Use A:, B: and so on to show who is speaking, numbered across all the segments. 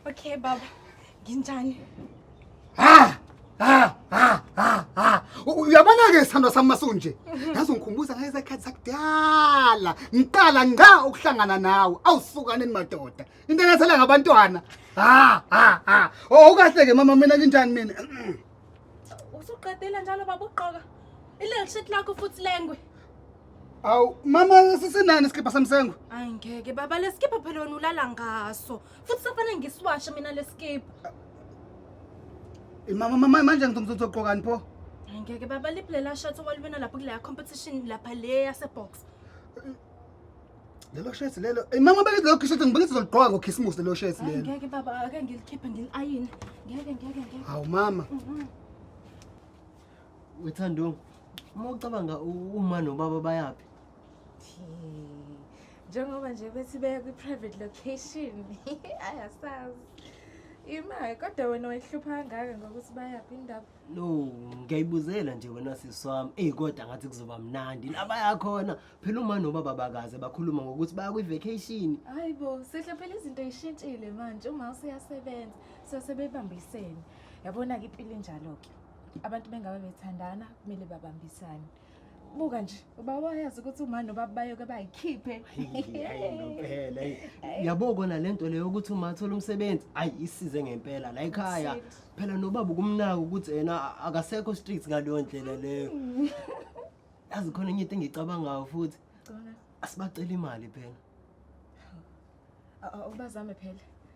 A: Okay baba, nginjani? Ha! Ha!
B: Ha! Ha! Ha! Uyabona ke sithandwa sami masunje. Yazi ungikhumbuza ngeke zakhathi sakudala. Ngiqala ngqa ukuhlangana nawe. Awusukaneni madoda. Into enethela ngabantwana. Ha! Ha! Ha! Oh ukahle ke mama mina nginjani mina?
A: Usuqedela njalo baba uqoka. Ile shirt lakho futhi lengwe. Awu
B: mama sisinani isikipha samsengo? Hayi ngeke baba
A: lesikipha phela wena ulala ngaso. Futhi safanele ngisiwashe mina lesikipha. Eh,
B: mama mama manje ngizogqokani pho? Hayi ngeke baba
A: liphi lela shirt owaliwina lapho kule competition lapha le yase box.
B: Lelo shirt lelo. Ey mama beke lelo shirt ngibeke sizolugqoka ngo Christmas lelo shirt Hayi lelo. ngeke baba ake
A: ngilikhiphe ngiliayine. Ngeke ngeke ngeke. Hawu mama.
B: Mhm.
C: wethandong uma ucabanga uma nobaba bayaphi
D: njengoba nje bethi beya kwi-private location ayasazi imali kodwa wena wayihlupha kangaka ngokuthi bayaphi indaba no
C: ngiyayibuzela nje wena sisi wami eyi kodwa ngathi kuzoba mnandi labayakhona phela uma nobaba bakaze bakhuluma ngokuthi baya kwi-vacation hayi bo sihle
D: phela izinto yishintshile manje uma useyasebenza sesebebambisene yabona-ke impilo injalo-ke abantu bengabe bethandana kumele babambisane buka nje ubaba wayazi ukuthi umani nobaba bayoke bayikhiphe
C: ngempela yabo kona le nto leyo ukuthi uma athola umsebenzi ayi isize ngempela la ekhaya phela nobaba ukumnaka ukuthi yena akasekho street ngaleyo ndlela leyo hmm. yazi khona enye into engicabangayo futhi asibacela imali phela
D: ubazame phela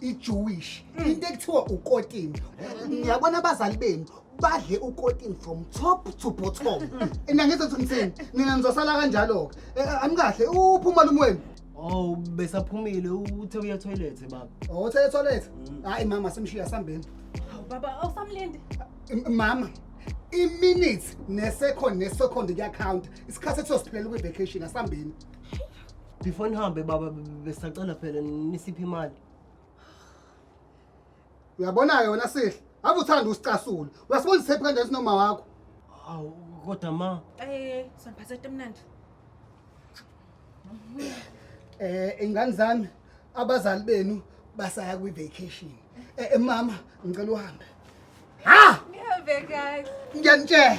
B: ijewish mm. into ekuthiwa ukotini ngiyabona abazali benu badle ukotini from top to bottom mm. ina ngenza ukuthi ngithini nina nizosala kanjalo-ke eh, eh, anikahle uphuma lumu wenu Oh besaphumile
C: uthe uya toilet baba. Oh uthe toilet?
B: Mm. Hayi mama simshiya sambeni. Baba
A: awusamlindi. Mama
B: iminutes ne second ne second kuyakhawunta isikhathi ethiwa siphelele kwi-vacation asambeni before
C: nihambe baba besacela phela nisiphi imali
B: uyabona-ke wena sihle ave uthanda usicasula uyasibonisa ephi kanjani sinoma wakho awu
C: kodwa ma Eh, soniphatha
A: etemnandi.
B: eh ingane zami abazali benu basaya kwi-vacation eh mama ngicela uhambe ha
D: Ngiyove guys. ngiyanitshela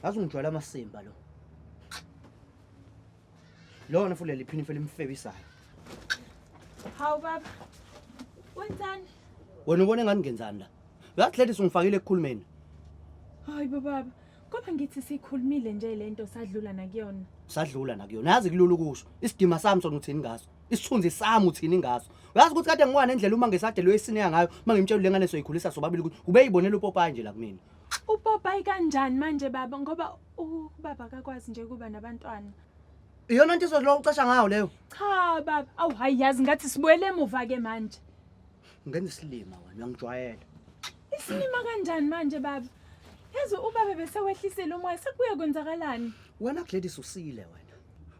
E: ngazi ungijwayela
F: amasimba lo lona futhi leli phinifa elimfebisayo
D: hawu baba wenzani wena ubona
F: engani ngenzani la uyazi ladies ungifakile ekukhulumeni hayi
D: bobaba kodwa ngithi sikhulumile nje le nto sadlula nakuyona sadlula nakuyona
F: yazi kulula ukusho isidima sami sona uthini ngaso isithunzi sami uthini ngaso uyazi ukuthi kade ngiwana endlela uma ngesadelwe esineya ngayo uma ngimtshela le ngane soyikhulisa sobabili ukuthi ubeyibonela upopayi nje la kumina Upopayi
D: kanjani manje baba ngoba ubaba akakwazi nje kuba nabantwana. Iyona nto
F: izothi lokho ucasha ngayo leyo. Cha baba,
D: awu hayi yazi ngathi sibuyele emuva ke manje. Ngenza
F: isilima wena uyangijwayela. Isilima
D: kanjani manje baba? Yazi ubaba besewehlisile umoya sekubuye kwenzakalani? Wena Gladys
F: usile wena.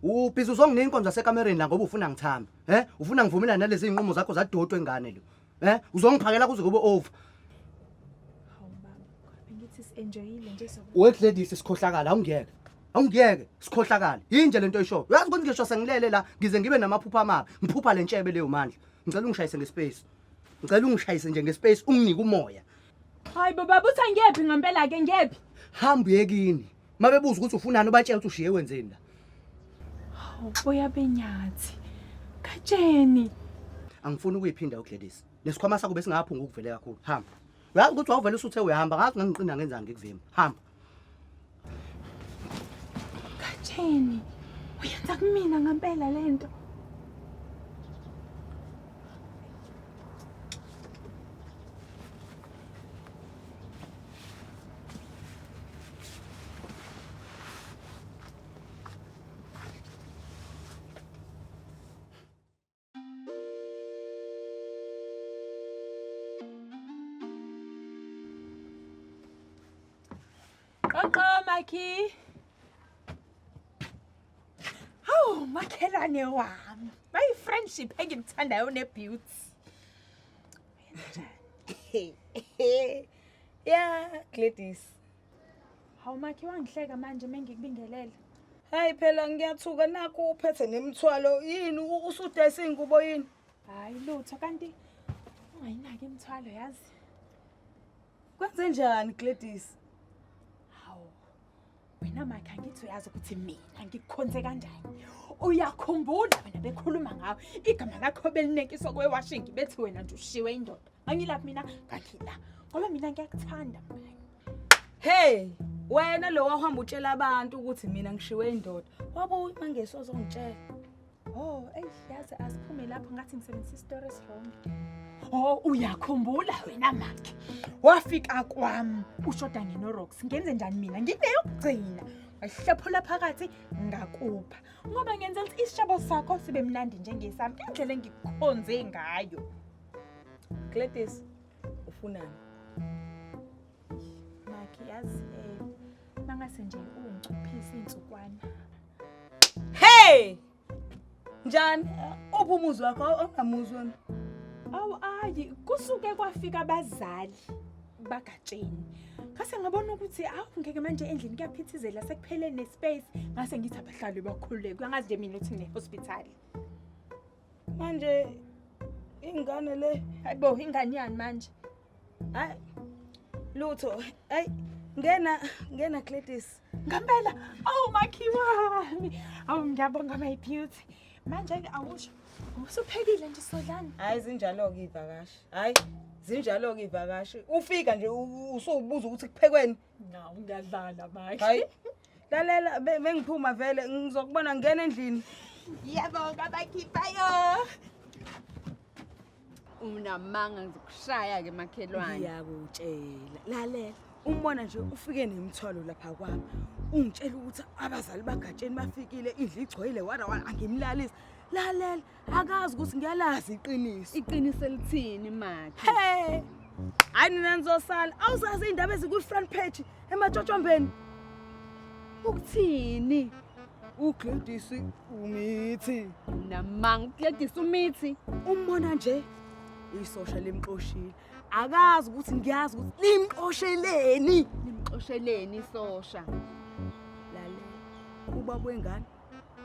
F: ubhizi uzonginika inkonzo yasekamereni la ngoba ufuna ngithamba he ufuna ngivumelane nalezi iy'nqumo zakho zadotwe ngane lo Eh uzongiphakela kuze kube over. Hawu baba,
D: bengithi si-enjoyile nje so. We Gladys sikhohlakala
F: awungiyeke. Awungiyeke sikhohlakala. Yinje lento oyishoyo. Uyazi ukuthi ngisho sengilele la ngize ngibe namaphupha amabi. Ngiphupha le ntshebe leyo mandla. Ngicela ungishayise ngespace. Ngicela ungishayise nje ngespace unginike umoya. Hayi bo baba
D: uthi angiyephi ngempela-ke ngiyephi. Hamba uyekini.
F: mabebuza ukuthi ufunani ubatshela ukuthi ushiye kwenzeni la hawu
D: boya benyathi katsheni
F: angifuni ukuyiphinda ugladys lesikhwama sakho besingaphunga ukuvele kakhulu hamba uyazi ukuthi wawuvele usuthe uyahamba ngazi ngangiqina ngenzani ngikuvima hamba
D: katsheni uyenza kumina ngampela le nto Qoqo Makhi. Hawu makhelwane wami. My friendship engimthandayo ne beauty.
G: ya Gladys
D: hawu makhe wangihleka manje mengikubingelele hayi phela
G: ngiyathuka nakho uphethe nemithwalo yini usudayisa iy'ngubo yini hayi lutho
D: kanti ungayinaki imithwalo yazi
G: kwenze njani Gladys hawu
D: wena makhe angithi uyazi ukuthi mina ngikukhonze kanjani uyakhumbula wena bekhuluma ngawo igama lakho belinekiswa kwewashingi bethi wena nje ushiwe indoda angilaphi mina ngangila ngoba mina ngiyakuthanda mngani hey
G: wena lo wahamba utshela abantu ukuthi mina ngishiwe indoda wabuye uma ngesozongitshela Oh,
D: eyi yazi asiphume lapho ngathi ngisebenzisa isitori esirongi. Oh, uyakhumbula wena makhe. Wafika kwami ushoda ngenorox. Ngenze njani mina? Ngineyokugcina. Wahlephula phakathi ngakupha. Ngoba ngenza ukuthi isishabo sakho sibe mnandi njengesami indlela engikukhonze ngayo.
G: Gladys, ufunani?
D: Makhe yazi eh mangase nje ungicuphisa insukwana.
G: Hey! Njani? Uphi umuzi wakho ongamuzwa? Awu
D: ayi kusuke kwafika abazali bagatsheni. Ngase ngabona ukuthi awu ngeke manje endlini kuyaphithizela sekuphele nespace ngase ngithi abahlali bakhululeke. Angazi nje mina ukuthi ne hospital.
G: manje ingane le hayibo ingane yani
D: manje hayi
G: lutho hayi ngena ngena Gladys ngempela
D: awu makhiwami awu ngiyabonga my beauty manje awusho usuphekile nje sodlani hayi zinjalo ke
G: ivakashi hayi zinjalo ke ivakashi ufika nje usubuza ukuthi kuphekweni ngawu ngiyadlala
D: manje hayi
G: lalela be- bengiphuma vele ngizokubona ngena endlini Ngiyabonga
D: bakhiphayo.
H: Unamanga ngikushaya ke makhelwane. ngiyakutshela
G: lalela umbona nje ufike nemthwalo lapha kwami ungitshela ukuthi abazali bagatsheni bafikile indlu igcwele wara wara angimlalisi lalela akazi ukuthi ngiyalazi iqiniso iqiniso elithini
H: makhe hey
G: hayi nina nizosala awuzazi iy'ndaba ezikwi-front page ematshotshombeni ukuthini
H: ugladys
G: umithi namanga
H: ugladys umithi umbona nje
G: isosha limxoshile akazi ukuthi ngiyazi ukuthi limxosheleni limxosheleni
H: isosha lalela
G: ubaba wengane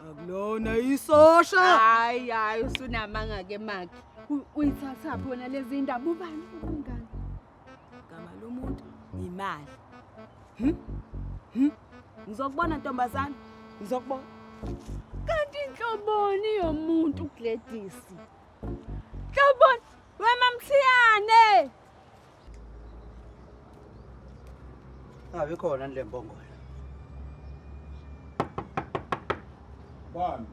G: Akulona isosha. Hayi hayi
H: usunamanga ke maki. Uyithatha phona lezi ndaba ubani ubungani? Gama
G: lomuntu imali. Hm? Hm? Ngizokubona ntombazana. Ngizokubona.
H: Kanti inhloboni yomuntu uGladys. Nhloboni wemamthiyane.
F: Ngabe khona le mbongola.
E: Bani?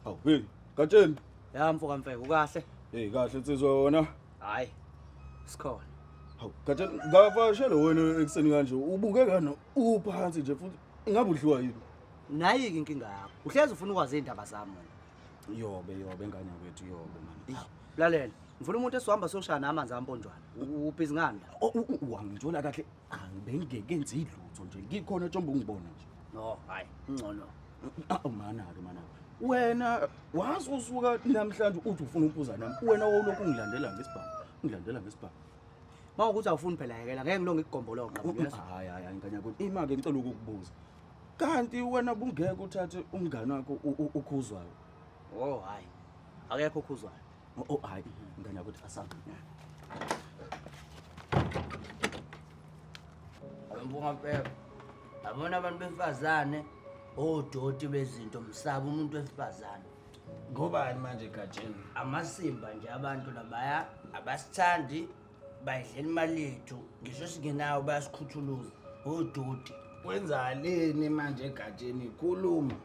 E: Awu, hey, Gatsheni. Ya mfoka mfeke
F: ukahle? Hey, kahle nsizwa
E: wena. Hayi.
F: Sikhona. Hawu,
E: Gatsheni, ngavashele wena ekuseni kanje. Ubuke kani Uphansi nje futhi ingabe udliwa yini? Nayi ke inkinga
F: yakho. Uhlezi ufuna ukwazi indaba zami wena. Yobe yobe ngane
E: yakwethu yobe manje. Lalela. Ngifuna
F: umuntu esizohamba soshaya nami amanzi amponjwana. Uphi izingane? Wangithola kahle.
E: Angibengeke nzi lutho nje. Ngikhona tshomba ungibona
F: nje.
E: No, hayi,
F: ngcono.
E: Awu mana
F: ke
E: mana. Wena wazi usuka namhlanje uthi ufuna ukuphuza nami. Wena wawulokhu ungilandela ngesibhamu. Ungilandela ngesibhamu. Uma
F: ukuthi awufuni phela yekela ngeke ngilonge ikugomboloqo. Hayi hayi hayi ngane
E: yakho. Ima ke ngicela ukukubuza. Kanti wena bungeke uthathe umngane wakho ukhuzwayo. Oh hayi.
F: Akekho ukhuzwayo. Oh, oh hayi
E: ngane yakho asabe.
F: Awumbonga mpela. Abona abantu besifazane odoti bezinto msaba umuntu wesifazane. ngobani
E: manje gatsheni amasimba nje
F: abantu labaya abasithandi bayidlela imali yethu ngisho singenayo bayasikhuthuluza odoti wenzaleni
E: manje egatsheni khuluma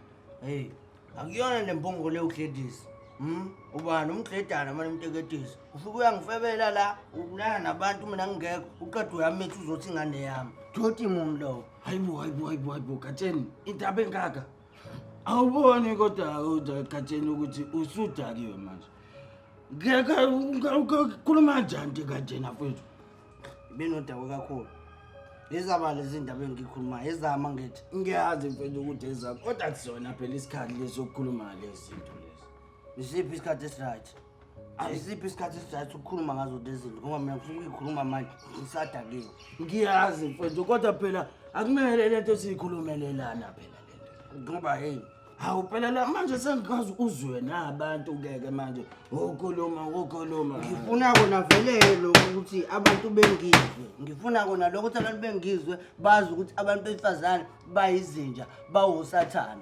E: heyi
F: akuyona le mpungo le uhlelisa um ubani umdledana mane umteketisa ufike uyangifebela la ukulala nabantu mina ngingekho uqeda uyamitha uzothi ingane yami doti mum lowo hayibo hayibo hayibo hayibo
E: gatsheni indaba engaka awuboni kodwa udakatsheni ukuthi usudakiwe manje khuluma njani ndikatshena fethu benodawo
F: kakhulu izaba lezi ndaba engikhuluma ezama ngithi ngiyazi mfethu ukuthi
E: ezakho kodwa kuzona phela isikhathi lesokukhuluma lezi zinto lezi isiphi isikhathi
F: esiright ayisiphi isikhathi esijayisa ukukhuluma ngazo lezinto ngoba mina ngifuna ukuyikhuluma manje ngisadakiwe ngiyazi
E: mfethu kodwa phela akumele le nto siyikhulumelelana phela le nto ngoba heyi
F: hawu phela la
E: manje sengikwazi uzwe na abantu keke manje wokhuluma wokhuluma ngifuna kona
F: vele lokho ukuthi abantu bengizwe ngifuna kona lokho ukuthi abantu bengizwe bazi ukuthi abantu besifazane bayizinja bawusathane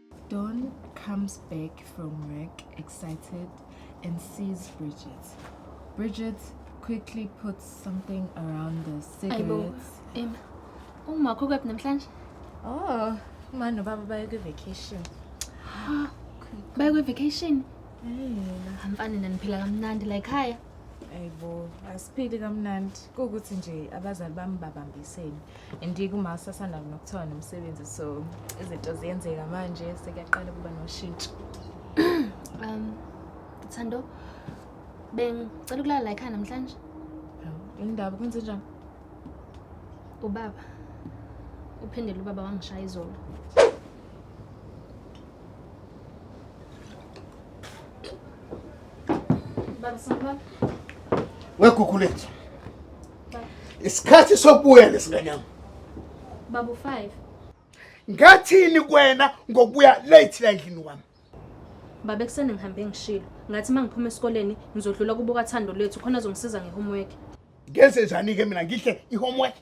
D: Dawn comes back from work excited and sees Bridget. Bridget quickly puts something around the cigarettes. Em,
I: uma kukephi namhlanje? Oh,
D: manje ubaba baye kwi-vacation.
I: Baye kwi-vacation?
D: Mfana naniphila
I: kamnandi la ekhaya. Ayibo,
D: asiphili kamnandi. Kuwukuthi nje abazali bami babambisene. and kuma sasanda nokuthiwa nomsebenzi so izinto ziyenzeka manje sekuyaqala ukuba noshintsho um
I: thando bengicela ukulala la ekhaya namhlanje indaba
D: kwenze njani
I: ubaba uphindele ubaba wangishaya izolo baba sanibona
B: wekukhulethu isikhathi sokubuya lesingane yami babu
I: 5 ngathini
B: kwena ngokubuya late la endlini wami baba
I: ekuseni ngihambe ngishilo ngathi uma ngiphuma esikoleni ngizodlula kubuka thando lethu khona azongisiza ngehomework ngenze
B: njani-ke mina ngihle i-homework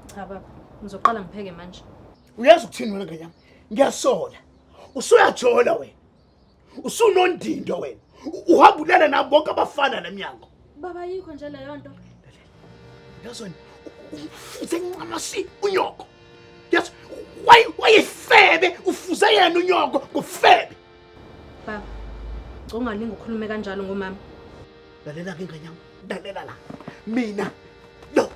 I: cha baba ngizoqala ngipheke manje uyazi ukuthini
B: wena nganyama ngiyasola usuyajola wena usunondindo wena uhamba ulala nabo bonke abafana nemnyango baba yikho nje
I: leyo nto
B: yazona ufuze ngincamasi unyoko yes wayefebe ufuze yena unyoko ngofebe baba
I: ungalingi ukhulume kanjalo ngomama lalela
B: ke nganyama lalela la mina lo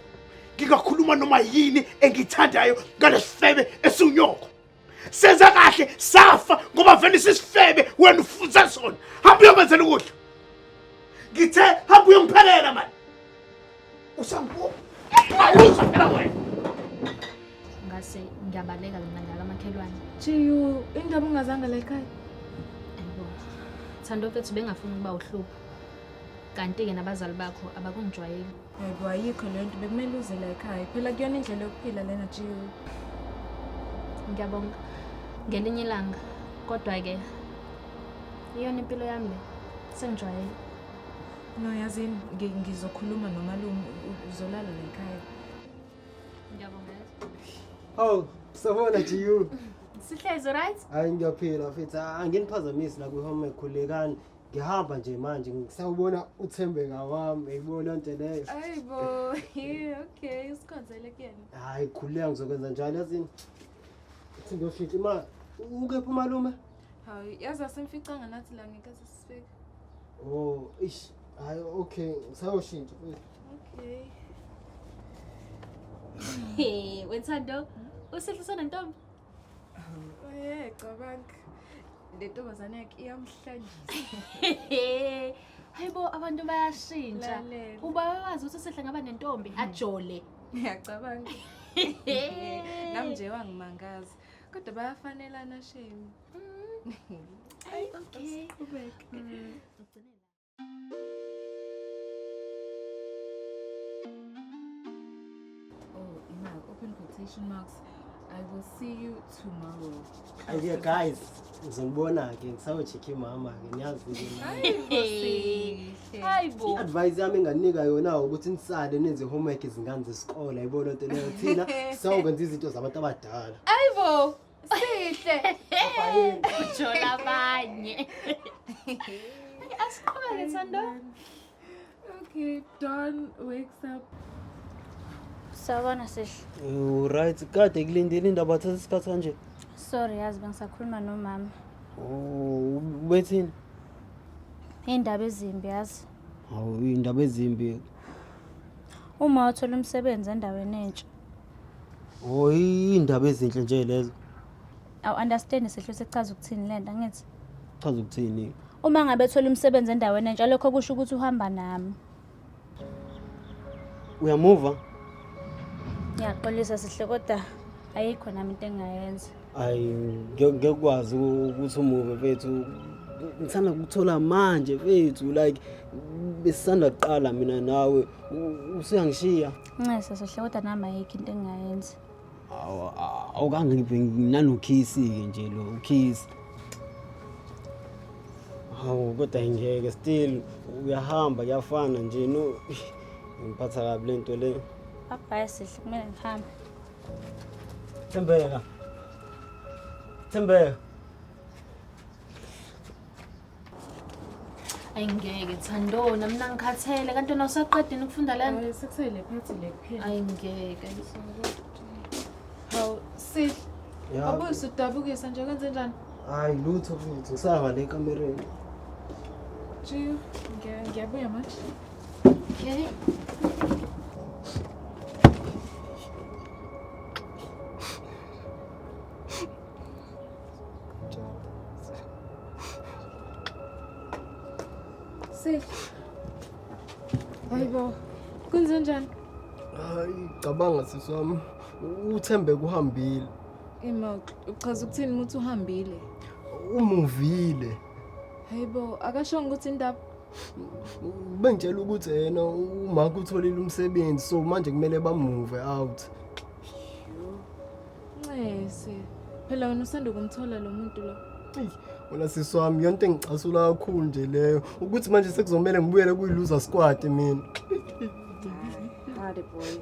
B: ngingakhuluma noma yini engithandayo ngalesifebe esiwunyoko senza kahle safa ngoba vele sisifebe wena ufunza sona hamba uyokwenzela ukudla ngithe hamba uyongiphelela mani usambuka ayuza phela wena
I: ngase ngiyabaleka mina ngala makhelwane jiyu
D: indaba ungazanga la ekhaya ayibo
I: thando fethu bengafuni ukuba uhlupho kanti-ke nabazali bakho abakungijwayeli Yebo ayikho
D: le nto bekumele uze la ekhaya. Phela kuyona indlela yokuphila lena Jiyo. Ngiyabonga.
I: Ngelinye ilanga kodwa ke iyona impilo yami le. Sengijwayele.
D: No yazini ngi- ngizokhuluma nomalume u- uzolala la ekhaya.
I: Ngiyabonga.
C: Hawu, sabona GU. Sihlezi
I: right? Hayi ngiyaphila mfethu,
C: anginiphazamisi la kwi-home ekhulekani. ngihamba nje manje ngisawubona uthembeka wami eyibona nto leyo ayi bo
D: okay usikhonzele kuyena hayi khuleka ngizokwenza
C: njalo yazini ithi ngiyoshintsha imali ukephi umalume hayi yazi
D: asimficanga nathi la ngeke sisifika oh
C: ish hayi okay ngisayoshintsha okay
I: Hey, wethando, usihle sana ntombi. Eh,
D: cabanga. Le ntombazane yakhe iyamhlanyisa.
I: Hayibo abantu bayashintsha. Lalela. Uba
D: wazi ukuthi usehle
I: ngaba nentombi ajole. Ngiyacabanga.
D: Nami nje wangimangaza. Kodwa bayafanelana shame. Ayi
I: okay. Qhubeka.
D: Oh, Imal, open quotation marks. I will
C: see you tomorrow. Ay, dear guys, ngizonibona ke ngisawojikha imama ke niyazi i-advice
I: yami enganika
C: yona ukuthi nisale nenze homework izingane zesikole ayibona nto leyo thina sawukwenza izinto zabantu abadala ayibo
D: sihle
I: ujola abanye asiqhubeke thando
D: okay don wakes up
J: sawubona sihle right kade
F: kulindile indaba thatha isikhathi kanje sorry yazi
J: bengisakhuluma nomama oh,
F: ubethini
J: iy'ndaba ezimbi yazi hawu iy'ndaba
F: ezimbi
J: uma wathola umsebenzi endaweni entsha
F: Oh, indaba ezinhle nje lezo. Awu
J: understand sehlo sekuchaza ukuthini lento angithi. Chaza ukuthini?
F: Uma ngabe thola
J: umsebenzi endaweni entsha lokho kusho ukuthi uhamba nami.
F: Uyamuva?
J: Ngiyaxolisa sihle kodwa ayikho nami into engayenza. Ayi ngeke
F: ngeke ukwazi u- ukuthi umuve mfethu. Ngisanda kukuthola manje mfethu like besisanda kuqala mina nawe. U- Usuyangishiya. Nxese sohle
J: kodwa nami ayikho into engingayenza. Awu
F: awukange ngibe nanokhisi-ke nje lo ukhisi. Hawu kodwa ngeke still uyahamba kuyafana nje no ngiphatha kabi le nto le. Abhaya sihle
J: kumele ngihambe. Thembeka.
F: Thembeka.
I: Ayi ngeke Thando, nami nangikhathele kanti wena usaqedini ukufunda lana. Hayi sekusele phathi le kuphela.
D: Ayi ngeke. Hawu sihle. Ya. Wabuye
C: usudabukisa
D: nje kwenze njani? Hayi lutho
C: futhi ngisaba le kamereni.
D: Jiyo, ngiya- ngiyabuya manje. Okay. Sel. Hayibo. Kunzenjani? Hayi,
C: cabanga sisi wami. Uthembe kuhambile. Ima
D: uchaza ukuthini ukuthi uhambile? Umuvile.
C: Hayibo,
D: akashongo ukuthi indaba
C: Bengitshela ukuthi yena umaka utholile umsebenzi so manje kumele bamuve out.
D: Ncese. Phela wena usanda kumthola lo muntu lo. Eyi, wena sisi
C: wami yonto engicasula kakhulu nje leyo ukuthi manje sekuzomele ngibuyele kuyi-loser squad mina
D: Hade boy.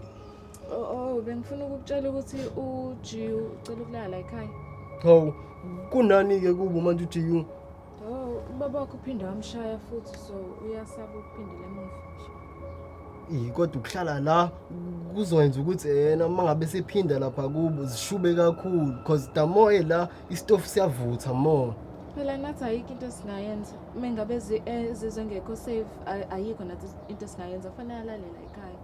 D: Oh, oh bengifuna ukukutshela ukuthi uJiu ucela ukulala ekhaya. hawu
C: kunani-ke kubo manje ujiyu Oh,
D: ubaba wakho uphinde wamshaya futhi so uyasaba ukuphindela emuva nje. Ey kodwa ukuhlala
C: la kuzokwenza ukuthi yena uma ngabe sephinda lapha kubo zishube kakhulu because the more ela istofu siyavutha more. Phela nathi ayikho
D: into esingayenza. Uma ngabe zi- eh, zizwe ngekho safe ay- ayikho nathi into esingayenza kufanele alalela ekhaya.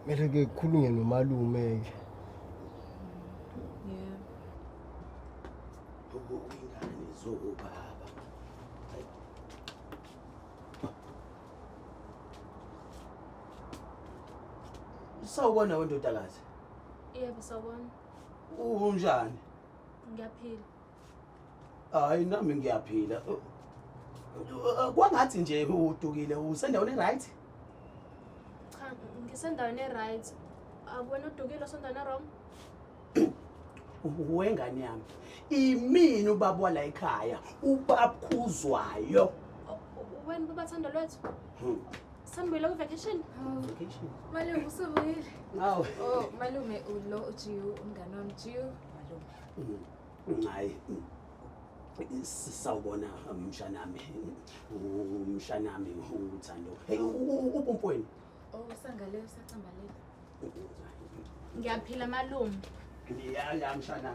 D: Kumele
C: ke kukhulunywe nomalume ke.
F: Ubungani zokubaba. Sawubona wendodakazi. Yebo
I: sawubona. Unjani? Ngiyaphila.
F: Hayi nami ngiyaphila. Kwangathi nje udukile usendaweni eright?
I: Cha, ngisendaweni eright. Akuwena udukile usendaweni wrong?
F: wengane yami imini ubaba wala ekhaya ubakhuzwayo
I: wena baba thando lwethu hmm. sambuyile ku-vacation vacation
F: malume usubuyile
D: awu oh
F: malume
D: ulo ujiyu umngane wami jiyu malume hmm.
F: hayi sawubona mshanami mshanami uthando hey ubumpoyini Oh,
D: usangaleyo usacambalele. Ngiyaphila
I: malume. Ngiyala
F: mshana.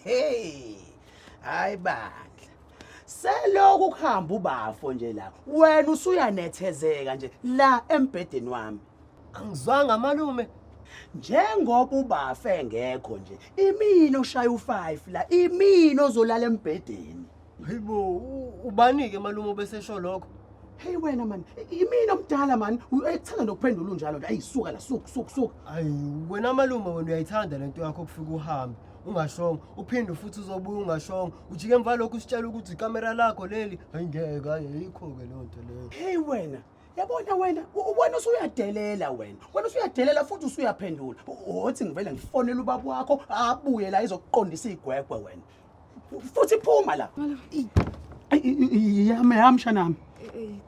F: Hey. Hayi bandla.
E: Seloku kuhamba ubafo nje la. Wena usuyanethezeka nje la embhedeni wami. Angizwanga
C: malume. Njengoba
E: ubafa engekho nje, imini oshaya u5 la, imini ozolala embhedeni. Hayibo, u-
C: ubanike malume obesesho lokho. Hey wena man,
E: imini omdala man, uyayithanda nokuphendula unjalo nje. Ayisuka la, suku suku suku. Ayi wena
C: malume wena uyayithanda lento yakho ukufika uhambe ungashongo uphinde futhi uzobuya ungashongo ujike emva lokho usitshela ukuthi ikamera lakho leli hayi ngeke hayi ayikho-ke leyo nto leyo Hey wena,
E: yabona wena wena usuyadelela wena wena usuyadelela futhi usuyaphendula othi ngivele ngifonele ubaba wakho abuye la izokuqondisa igwegwe wena futhi phuma la yami yami shanami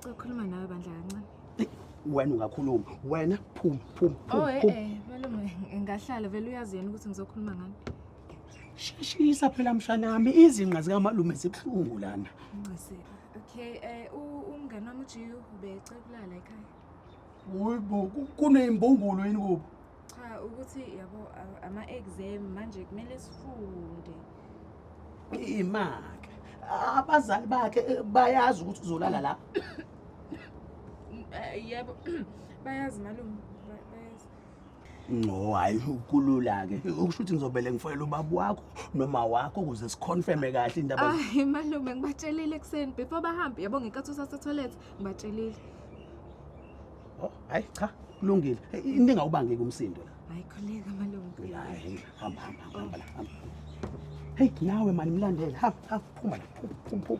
E: cokhuluma
D: nawe bandla kancane wena
E: ungakhuluma wena phuma phuma phuma
D: oh eh, eh malume ngahlala vele uyazi yena ukuthi ngizokhuluma ngani Sheshisa
E: phela mshanami izinqa zikamalume zibuhlungu lana. Ncese.
D: Okay, eh u- umngane wami uJiyo ubecela ukulala ekhaya. Uyibo
E: kuneyimbungulu yini kubo? Cha ukuthi
D: yabo a- ama-exam manje kumele sifunde. Imake.
E: Abazali bakhe eh, bayazi ukuthi uzolala la. Mm, eh,
D: Yebo bayazi malume ba- bayazi. no
E: hayi kulula-ke ukusho ukuthi ngizobele ngifoyela ubaba wakho noma wakho ukuze sikhonfeme kahle indaba hayi malume
D: ngibatshelile ekuseni before bahambe yabo ngenkathi usasetoilet ngibatshelile
E: oh hayi cha kulungile into engawubangeki umsindo la hayi khuleka malume hayi hamba hamba hamba la hamba heyi nawe mani mlandele hamba hamba phuma la phuma phuma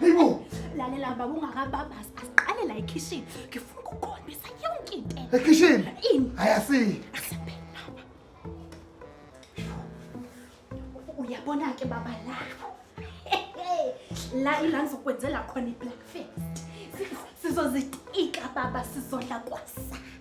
B: Yibo. Lalela
A: baba ungakababazi asiqale la ekhishini. Ngifuna ukukhombisa yonke into. Ekhishini? Ini?
B: Ayasi.
A: Asembe baba. Uyabona ke baba la. La ila ngizokwenzela khona iblack face. Sizozitika baba sizodla kwasa.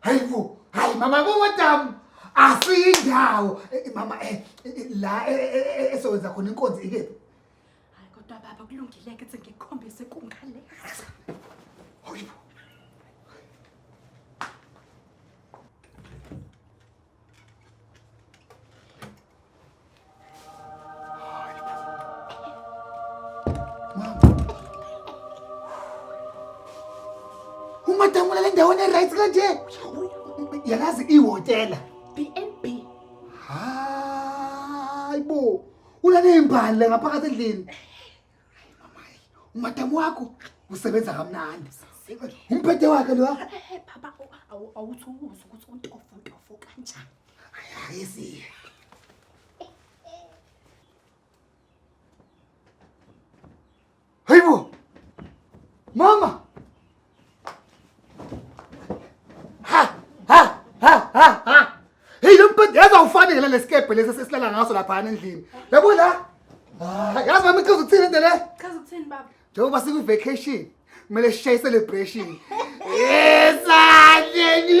B: hayi bo hayi mama bomodamu asiyindawo Eh, eh, mama eh, eh, eh, la eh, eh, eh, esewenza khona inkonzi ikephi hayi kodwa
A: baba kulungile ke ukuthi ngikukhombise kungale hayi
B: bo ungadangula le ndawo ne-rights kanje yakazi ihhotela b n b
A: hayi
B: bo ulaley'mbali le ngaphakathi endlini Hayi mama, hayi. Umadamu wakho usebenza kamnandi. Umphethe wakhe lo. Eh baba
A: awu- awuthi ukuzwa ukuthi untofo untofo kanjani. Hayi
B: siya. Hayibo. Mama. ha ha ha ha ha hey lo mbhede yaza ufanele lesikebhe lesi sesilala ngaso lapha endlini yabo la Ah, yazi mama ichaza ukuthini into le Chaza ukuthini baba? njengoba sikwi vacation kumele sishaye celebration yesandleni